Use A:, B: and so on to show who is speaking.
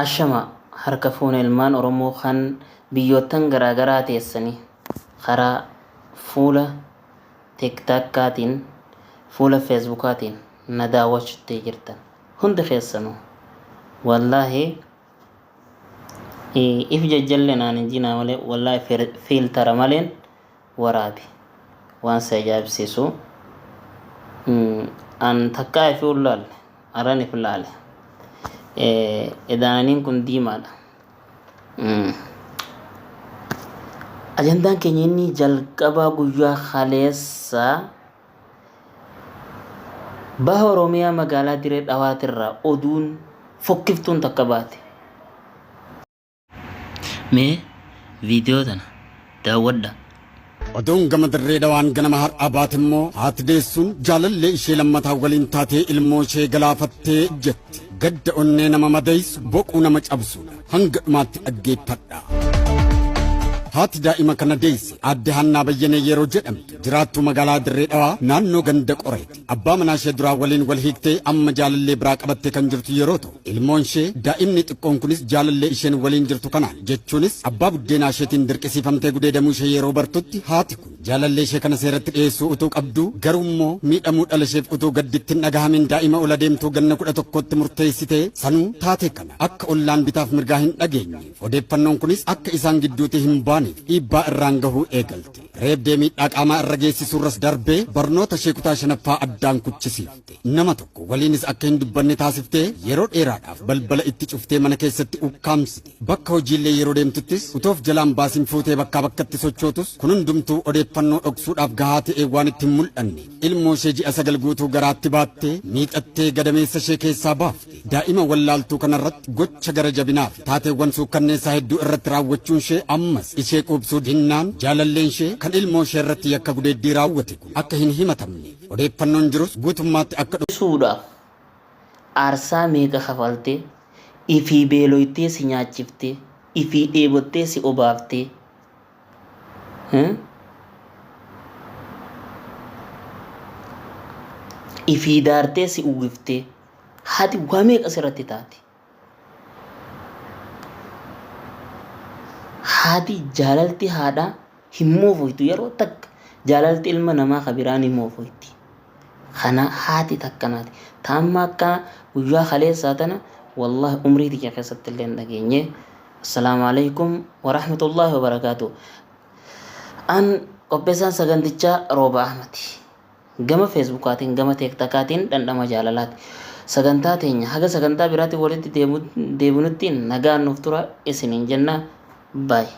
A: Ashama harka fuune ilmaan Oromoo kan biyyoottan garaa garaa teessani karaa fuula tiktakkaatiin fuula feesbukaatiin na daawwachutti jirtan hundi keessanu wallaahi if jajjalle naan hin jinaa malee wallaahi fiiltara maleen waraabi waan si ajaa'ibsiisu an takkaa ifii hin laalle aran if laale edaananiin kun diimaadha ajandaan keenya inni jalqabaa guyyaa kaleessaa baha oromiyaa magaalaa diree dhawaatirraa oduun fokkiftuun takka baate Mee viidiyoo tana daawwadha. Oduun
B: gama dirree dhawaan ganama har'aa baate immoo haati deessuun jaalallee ishee lammataa waliin taatee ilmoo ishee galaafattee jetti. Gadda onnee nama madeessu boquu nama cabsuudha. Hanga dhumaatti dhaggeeffadha. Haati daa'ima kana deesse aadde Haannaa Bayyanee yeroo jedhamtu jiraattuu magaalaa Dirree Dhawaa naannoo ganda qoreeti. Abbaa manaa ishee duraa waliin wal hiiktee amma jaalallee biraa qabattee kan jirtu yeroo ta'u, ilmoon ishee daa'imni xiqqoon kunis jaalallee isheen waliin jirtu kanaan jechuunis abbaa buddeenaa isheetiin dirqisiifamtee gudeedamuu ishee yeroo bartutti haati kun jaalallee ishee kana seeratti dhiyeessuu utuu qabduu garuu immoo miidhamuu dhala isheef utuu gadditti hin dhagahamin daa'ima ol adeemtuu ganna kudha tokkootti murteessitee sanuu taatee kana akka ollaan bitaaf mirgaa hin dhageenyeef odeeffannoon kunis akka isaan gidduutii hin baaneef dhiibbaa irraan gahuu eegalte. Reebdee miidhaa qaamaa irra geessisuurras darbee barnoota ishee kutaa shanaffaa addaan kuchisiifte. Nama tokko waliinis akka hin dubbanne taasiftee yeroo dheeraadhaaf balbala itti cuftee mana keessatti ukkaamsite. Bakka hojiillee yeroo deemtuttis utoof jalaan baasiin fuutee bakkaa bakkatti sochootus kun hundumtuu odeeffannoo dhoksuudhaaf gahaa ta'ee waan itti hin mul'anne. Ilmoo ishee ji'a sagal guutuu garaatti baattee miixattee gadameessa ishee keessaa baafte. Daa'ima wallaaltuu kanarratti gocha gara jabinaa fi taateewwan suukkanneessaa hedduu irratti raawwachuun ishee ammas ishee quubsuu dinnaan jaalalleen ishee kan ilmoo ishee irratti yakka gudeeddii raawwate kun akka hin himatamne odeeffannoon jirus guutummaatti akka Dhiisuudhaaf
A: aarsaa meeqa kafaltee? Ifii beeloytee si nyaachiftee, ifii dheebottee si obaaftee, Eh? ifii daartee si uwwiftee haati waa meeqa sirratti taati haati jaalalti haadhaa hin moofoytu yeroo takka jaalalti ilma namaa ka biraa ni moofoyti Kana haati takka naati. Ta amma akka guyyaa kaleessaa tana wallahi umrii tiyya keessatti illee hin dhageenye. Assalaamu alaikum warahmatullahi wabarakaatu. An qopheessaan sagantichaa Rooba Ahmadi. Gama feesbuukaatiin gama teektakaatiin dhandhama jaalalaati. Sagantaa teenya haga sagantaa biraatiin walitti deebinutti nagaan nuuf tura isiniin jenna. Baay'ee.